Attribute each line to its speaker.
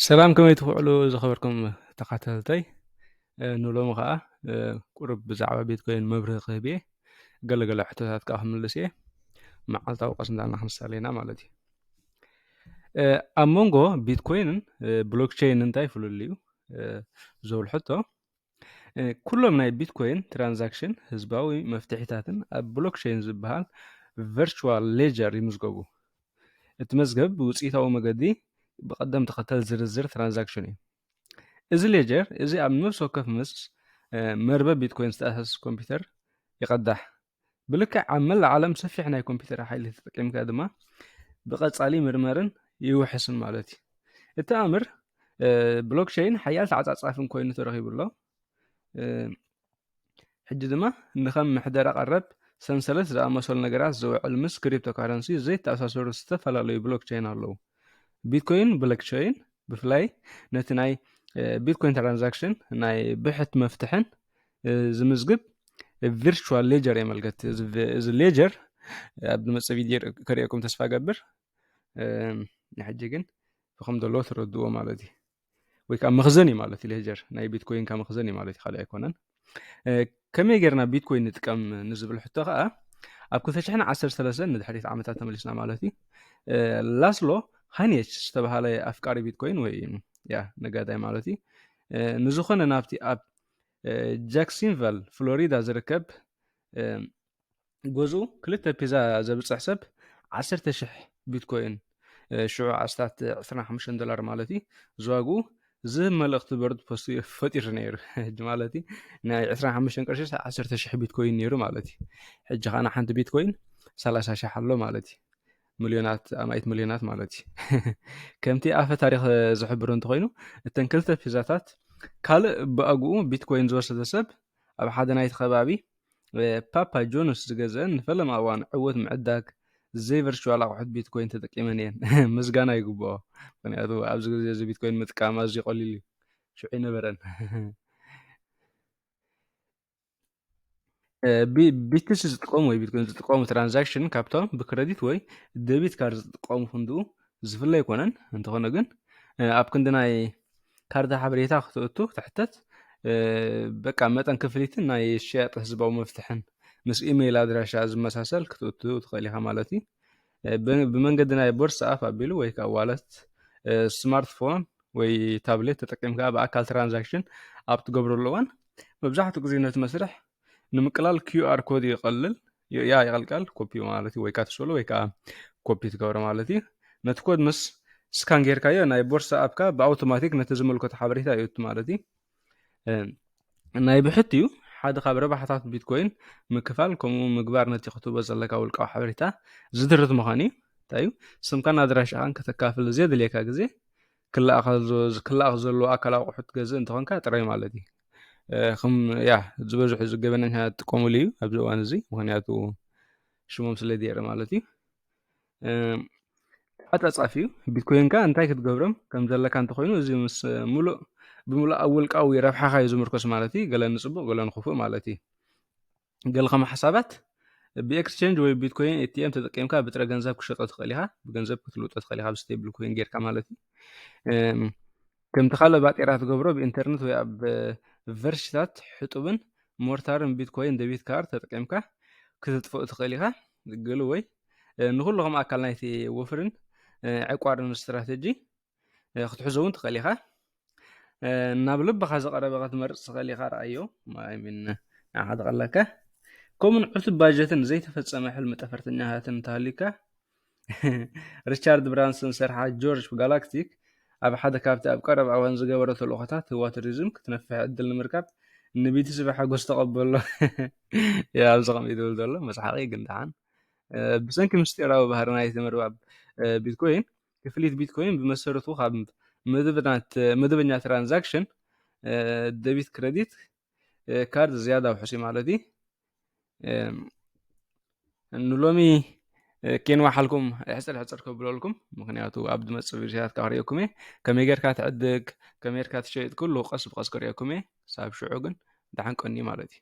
Speaker 1: ሰላም ከመይ ትኽዕሉ ዝኸበርኩም ተኸታተልተይ ንሎሚ ከዓ ቁርብ ብዛዕባ ቤት ኮይን መብርህ ክህብ እየ ገለገለ ሕቶታት ከዓ ክምልስ እየ መዓልታዊ ቀስንዳና ክንሳለና ማለት እዩ ኣብ መንጎ ቢትኮይንን ብሎክቸይን እንታይ ፍልልዩ ዝብል ሕቶ ኩሎም ናይ ቢትኮይን ትራንዛክሽን ህዝባዊ መፍትሒታትን ኣብ ብሎክቸይን ዝበሃል ቨርቹዋል ሌጀር ይምዝገቡ። እቲ መዝገብ ብውፅኢታዊ መገዲ ብቐደም ተኸተል ዝርዝር ትራንዛክሽን እዩ። እዚ ሌጀር እዚ ኣብ ነፍሲ ወከፍ ምስ መርበብ ቢትኮይን ዝተኣሳሰስ ኮምፒውተር ይቐዳሕ። ብልክዕ ኣብ መላእ ዓለም ሰፊሕ ናይ ኮምፒተር ሓይሊ ተጠቂምካ ድማ ብቐጻሊ ምርመርን ይውሕስን ማለት እዩ እቲ ኣምር ብሎክቸይን ሓያል ተዓጻጻፍን ኮይኑ ተረኺቡ ኣሎ ሕጂ ድማ ንከም ምሕደራ ቀረብ ሰንሰለት ዝኣመሰሉ ነገራት ዝውዕል ምስ ክሪፕቶ ካረንሲ ዘይተኣሳሰሩ ዝተፈላለዩ ብሎክቸይን ኣለዉ ቢትኮይን ብሎክቸይን ብፍላይ ነቲ ናይ ቢትኮይን ትራንዛክሽን ናይ ብሕት መፍትሕን ዝምዝግብ ቪርቹዋል ሌጀር የመልከት እዚ ሌጀር ኣብ ዝመፅእ ቪድዮ ከርእየኩም ተስፋ ገብር ንሕጂ ግን ብከም ዘለዎ ትረድዎ ማለት እዩ ወይ ከዓ መክዘን እዩ ማለት እዩ ሌጀር ናይ ቢትኮይንካ መክዘን እዩ ማለት እዩ ካልእ ኣይኮነን ከመይ ጌርና ቢትኮይን ንጥቀም ንዝብል ሕቶ ከዓ ኣብ 213 ንድሕሪት ዓመታት ተመሊስና ማለት እዩ ላስሎ ሃኒች ዝተባሃለ ኣፍቃሪ ቢትኮይን ወይ ያ ነጋዳይ ማለት እዩ ንዝኾነ ናብቲ ጃክሲንቫል ፍሎሪዳ ዝርከብ ገዝኡ ክልተ ፒዛ ዘብፅሕ ሰብ ዓሰርተ ሽሕ ቢትኮይን ሽዑ ኣስታት 25 ዶላር ማለት እዩ ዝዋግኡ ዝህብ መልእኽቲ በርድ ፖስት ፈጢሩ ነይሩ ሕጂ ማለት እዩ ናይ 25 ቅርሺ 10 ሽሕ ቢትኮይን ነይሩ ማለት እዩ ሕጂ ከዓና ሓንቲ ቢትኮይን 30 ሽሕ ኣሎ ማለት እዩ ሚልዮናት ኣማኢት ሚልዮናት ማለት እዩ ከምቲ ኣፈ ታሪክ ዝሕብር እንተኮይኑ እተን ክልተ ፒዛታት ካልእ ብኣግኡ ቢትኮይን ዝወሰደ ሰብ ኣብ ሓደ ናይቲ ከባቢ ፓፓ ጆንስ ዝገዘአን ንፈለማ እዋን ዕወት ምዕዳግ ዘይ ቨርቹዋል ኣቁሑት ቢትኮይን ተጠቂመን እየን ምስጋና ይግብኦ ምክንያቱ ኣብዚ ግዜ እዚ ቢትኮይን ምጥቃም ኣዝዩ ቀሊል እዩ ሽዑ ይነበረን ቢትስ ዝጥቀሙ ወይ ቢትኮይን ዝጥቀሙ ትራንዛክሽን ካብቶም ብክረዲት ወይ ደቢት ካርድ ዝጥቀሙ ክንድኡ ዝፍለ ኣይኮነን እንተኾነ ግን ኣብ ክንዲ ናይ ካርድ ሓበሬታ ክትእቱ ትሕተት በቃ መጠን ክፍሊትን ናይ ሸያጥ ህዝባዊ መፍትሕን ምስ ኢሜይል ኣድራሻ ዝመሳሰል ክትእቱ ትኽእል ኢኻ ማለት እዩ ብመንገዲ ናይ ቦርሳ ኣፍ ኣቢሉ ወይ ከዓ ዋለት ስማርትፎን ወይ ታብሌት ተጠቂምካ ብኣካል ትራንዛክሽን ኣብ ትገብረሉ እዋን መብዛሕትኡ ግዜ ነቲ መስርሕ ንምቅላል ኪዩኣር ኮድ ይቐልል ያ ይቐልቀል ኮፒ ማለት እዩ ወይ ከዓ ትስእሎ ወይ ከዓ ኮፒ ትገብሮ ማለት እዩ ነቲ ኮድ ምስ ስካን ጌርካዮ ናይ ቦርሳ ኣብካ ብኣውቶማቲክ ነቲ ዝመልከቶ ሓበሬታ ይእቱ ማለት እዩ ናይ ብሕት እዩ ሓደ ካብ ረባሕታት ቢትኮይን ምክፋል ከምኡ ምግባር ነቲ ክትቦ ዘለካ ውልቃዊ ሓበሬታ ዝድርት ምዃን እዩ እንታይ እዩ ስምካን ኣድራሻኻን ከተካፍል ዘየድልየካ ግዜ ክላኣኽ ዘለዎ ኣካል ኣቑሑት ገዝእ እንተኾንካ ጥራይ ማለት እዩ ከም ያ ዝበዝሑ እዚ ገበነኛ ዝጥቀሙሉ እዩ ኣብዚ እዋን እዚ ምክንያቱ ሽሞም ስለ ማለት እዩ ተዓጻጻፊ እዩ ቢትኮይንካ እንታይ ክትገብሮም ከም ዘለካ እንተኮይኑ እዚ ምስ ሙሉእ ብምሉእ ኣብ ውልቃዊ ረብሓኻ እዩ ዝምርኮስ ማለት እዩ ገለ ንፅቡቅ ገለ ንክፉእ ማለት እዩ ገለ ከም ሓሳባት ብኤክስቸንጅ ወይ ቢትኮይን ኤቲኤም ተጠቂምካ ብጥረ ገንዘብ ክሸጦ ትኽእል ኢኻ ብገንዘብ ክትልውጦ ትኽእል ኢኻ ብስቴብል ኮይን ጌርካ ማለት እዩ ከምቲ ካልእ ባጤራ ትገብሮ ብኢንተርነት ወይ ኣብ ቨርሽታት ሕጡብን ሞርታርን ቢትኮይን ደቢት ካርድ ተጠቂምካ ክተጥፍኡ ትኽእል ኢኻ ግሉ ወይ ንኩሉ ከም ኣካል ናይቲ ወፍርን ዕቋርን ስትራተጂ ክትሕዞ እውን ትኽእል ኢኻ ናብ ልብኻ ዝቐረበ ክትመርፅ ትኽእል ኢኻ ረኣዮ ሚን ንዓኻ ዝቐለካ ከምኡን ዕቱብ ባጀትን ዘይተፈፀመ ሕልሚ ጠፈርተኛታትን እንተሃልዩካ ሪቻርድ ብራንሰን ዝሰርሓ ጆርጅ ጋላክቲክ ኣብ ሓደ ካብቲ ኣብ ቀረባ እዋን ዝገበሮ ተልእኾታት ህዋ ቱሪዝም ክትነፍሕ ዕድል ንምርካብ ንቢቲሲ ብሓጎስ ተቐበሎ እያ ኣብዚ ከምኡ ትብል ዘሎ መስሓቂ ግን ደሓን ብሰንኪ ምስጢራዊ ባህሪ ናይቲ ምርባብ ቢትኮይን ክፍሊት ቢትኮይን ብመሰረቱ ካብ መደበኛ ትራንዛክሽን ደቢት ክረዲት ካርድ ዝያዳ ውሑስ እዩ ማለት እዩ ንሎሚ ኬንዋ ሓልኩም ሕፅር ሕፅር ከብለልኩም ምክንያቱ ኣብ ዝመፅእ ቪድዮታት ካብ ሪኦኩም እየ ከመይ ጌርካ ትዕድግ ከመይ ጌርካ ትሸይጥ ኩሉ ቀስ ብቀስ ክሪኦኩም እየ ሳብ ሽዑ ግን ደሓን ቀኒ ማለት እዩ